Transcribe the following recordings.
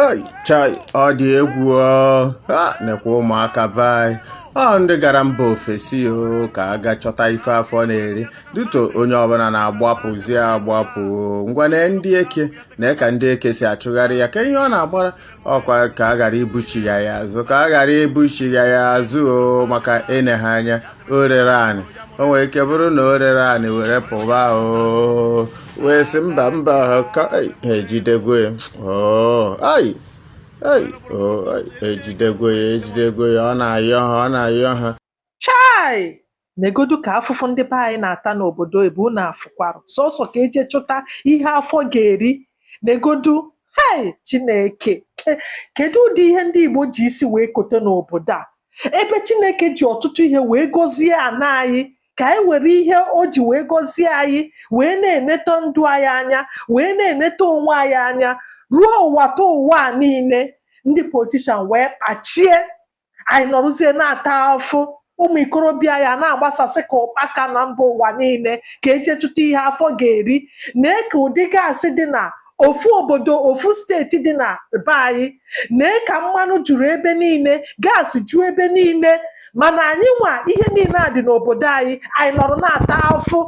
ei chai ọ dị egwu o ha nekwa ụmụaka be anyị o ndị gara mba ofesi o ka a ga chọta ife afọ na-eri duto onye ọbụla na-agbapụzi agbapụ o. ngwa nee ndị eke nee ka ndị eke si achụgharị ya kee ihe ọ na-agbara ọkwa ka a ghara ibuchigha ya azụ ka a ghara ibuchigha ya azụ o maka ịne ha anya o rere anị o nwere ike bụrụ na o rere anị were pụba o wee sị mba mba ka ei, ha ejidego ya oo ai ei oo ei, ejidego ya ejidego ya ọ na-ayọ ha ọ na-ayọ ha chai negodu ka afụfụ ndị be anyị na-ata n'obodo oyibo unu afụkwara sọsọ ka eje chụta ihe afọ ga-eri negodu hei chineke ke- kedu ụdị ihe ndị igbo ji isi wee kote n'obodo a ebe chineke ji ọtụtụ ihe wee gọzie ana anyị ka anyị were ihe o ji wee gọzie anyị wee na-eneta ndụ anyị anya wee na-eneta onwe anyị anya ruo ụwa ta ụwa a niile ndị politishan wee kpachie anyị nọrụzie na-ata afụ ụmụ ikorobịa ya na-agbasasị ka ụkpaka na mba ụwa niile ka eje chụta ihe afọ ga-eri nee ka ụdị gaasị dị na ofu obodo ofu steeti dị na be anyị nee ka mmanụ juru ebe niile gaasị ju ebe niile mana anyị nwa ihe niile a dị n'obodo anyị anyị nọrọ na-ata afụ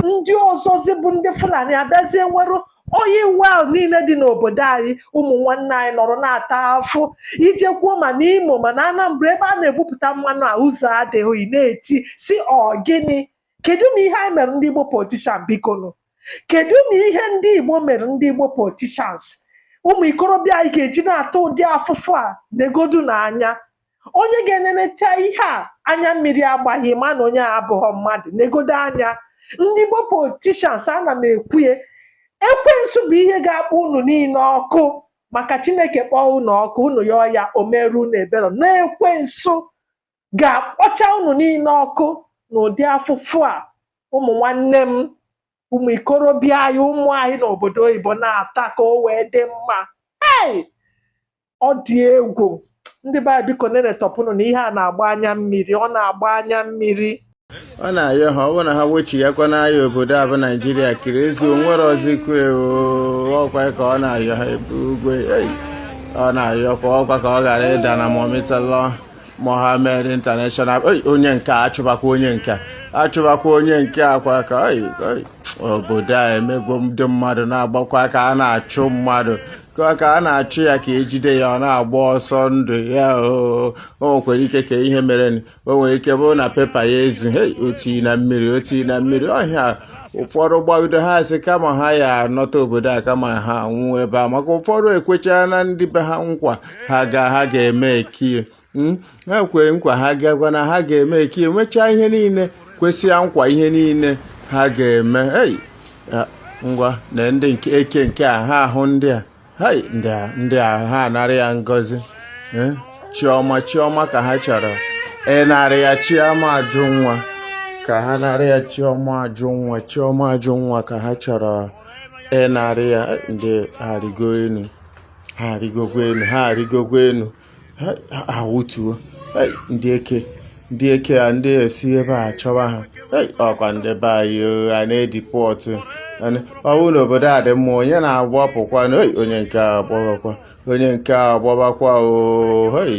ndị ọzọzi bụ ndị fulani abịazie nwerụ oil well niile dị n'obodo anyị ụmụ nwanne anyị nọrọ na-ata afụ i jekwuo ma n'imo ma na anambra ebe a na-ebupụta mmanụ a ụzọ adịghị na-eti sị ọ gịnị kedu na ihe anyị mere ndị igbo politishan bikonu kedu na ihe ndị igbo mere ndị igbo politishans ụmụ ikorobịa anyị ga-eji na-ata ụdị afụfụ a negodu n'anya onye ga-enenecha ihe a anya mmiri agbaghị ma na onye a abụghọ mmadụ negodo anya ndị igbo politishans ana m ekwu ya ekwensu bụ ihe ga-akpọ unu niile ọkụ maka chineke kpọọ unu ọkụ unu yọọ ya o merụ unu ebere na ekwensu ga-akpọcha unu niile ọkụ n'ụdị afụfụ a ụmụ nwanne m ụmụ ikorobịa anyị ụmụ anyị n'obodo oyibo na-ata ka o wee dị mma ei ọ dị egwu ndị be anyị biko nenetọpụnụ na ihe a na-agba anya mmiri ọ na-agba anya mmiri ọ na-ayọ ha ọ bụ na ha wechighakwana ya obodo a bụ naijiria kiriezi o nwere ọzọkwa ọkwa ka ọ na-ayọ ha ebe ugwe ọ na-ayọkwa ọkwa ka ọ ghara ịda na murtala mohammed international onye nke achụbakwa onye nke achụbakwa onye nke a kwa ka obodo a emegwo ndị mmadụ na-agbakwa ka a na-achụ mmadụ ka ka a na-achụ ya ka ejide ya ọ na-agba ọsọ ndụ ya o nwekwara ike ka ihe mere o nwere ike bụrụ na pepa ya ezu hei oti na mmiri oti na mmiri ọhịa ụfọdụ gbabido ha asị kama ha ya-anọta obodo a kama ha anwụọ ebe a maka ụfọdụ ekwecharana ndị be ha nkwa ha ga ha ga-emeki ya Hmm? ha kwee nkwa ha gakwa na ha ga-emeki ya mechaa ihe niile kwesịa nkwa ihe niile ha ga-eme ei ya, ngwa na ndị nke eke nke a ha ahụ ndị a hai ndị a ndị a ha anara ya Ngọzi eh? Chiọma Chiọma ka ha chọrọ ịnara ya Chiọma Ajụnwa ka ha nara ya Chiọma Ajụnwa Chiọma Ajụnwa ka ha chọrọ ịnara ya ndị a arịgo enu ha arịgokwa enu ha arịgokwa enu awụtuo ndị eke ndị eke a ndị esi ebe a chọwa ha ọkwa ndị be anyị a na-edipọtụ ọ wụ na obodo a dị mma onye na-agbapụkwanụ onye nke a gbabakwa onye nke a gbabakwa oyi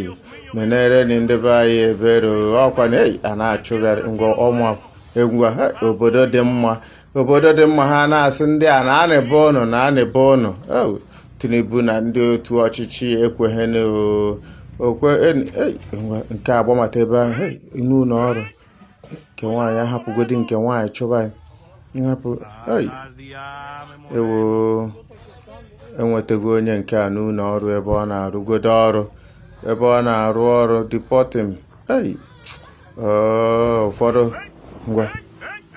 menerenị ndị be anyị ebere ọkwa na a na-achụgharị ngwa ọma egwu obodo dị mma obodo dị mma ha na-asị ndị a naanị be ụnụ naanị be ụnụ Tinubu na ndị otu ọchịchị ekweghị okay nke agbamata ebe ahụ n'ụlọ ọrụ nke nwaanyị ahapụgodi nke nwaanyị chụba nhapụ ewo enwetago onye nke a n'ụlọ ọrụ ebe ọ na-arụgodo ọrụ ebe ọ na-arụ ọrụ deporting ei ụfọdụ ngwa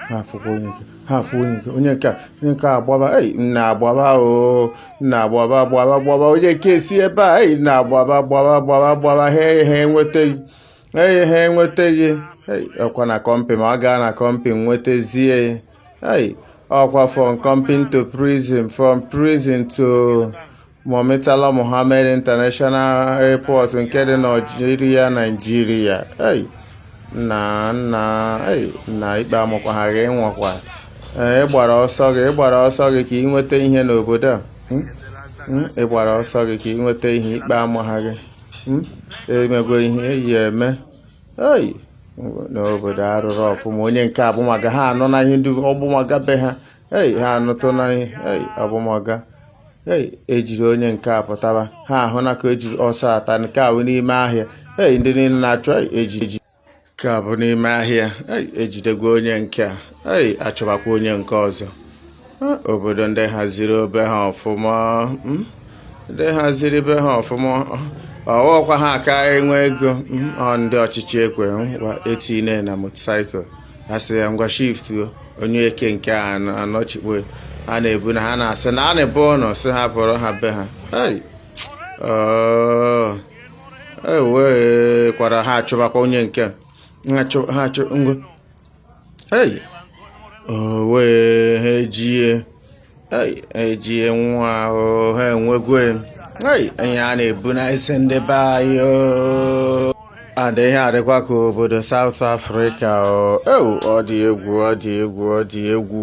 ha afụkwa onye nke ha afụ onye nke onye nke a onye nke a agbaba ei nna agbaba o nna agbaba gbaba gbaba onye nke esi ebe a ei nna agbaba gbaba gbaba gbaba ha ha enwetaghị ei ha enwetaghị ei ọkwa na kọmpi ma ọ gaa na kọmpi nwetazie ei ọkwa from company to prison from prison to Murtala Mohammed International Airport nke dị na Naịjirịa Naịjirịa na nna na ikpe amakwaha gị nwakwa ị gbara ọsọ gị ị gbara ọsọ gị ka ị nweta ihe n'obodo a hmm? Hmm? ị gbara ọsọ gị ka ị nweta ihe ikpe amaha gị hmm? i mego ihe ị ya-eme ei n'obodo a rụrụ ọfụma onye nke abụmaga ha anọ na ihe ndị ọgbụmaga be ha ei ha anụtụna ei ọbụmọga ei ejiri onye nke a pụtaba ha ahụ na ka ejiri ọsọ ata nke a bụ n'ime ahịa ei ndị niile na-achụ ei eji eji nke a bụ n'ime ahịa ei ejidegwa onye nke a ei achụbakwa onye nke ọzọ Ah, obodo ndị haziri obe ha ọfụma mm, ndị haziri be ha ọfụma ọ wụkwa ha ka enwe ego mm, ọ ndị ọchịchị ekwe ngwa etinye na motorcycle asị ya ngwa shift onye eke nke a anọchikpo ha na-ebu na ha na-asị na a na-ebu ụlọ sị ha buru ha be ha ewee kwara ha achụbakwa onye nke ha achụ ngwa wee ha ejie ejie nwa ahụ ha enwegwe ihe a na-ebu na isi ndị be anyị and ihe adịkwa ka obodo South Africa ọ dị egwu ọ dị egwu ọ dị egwu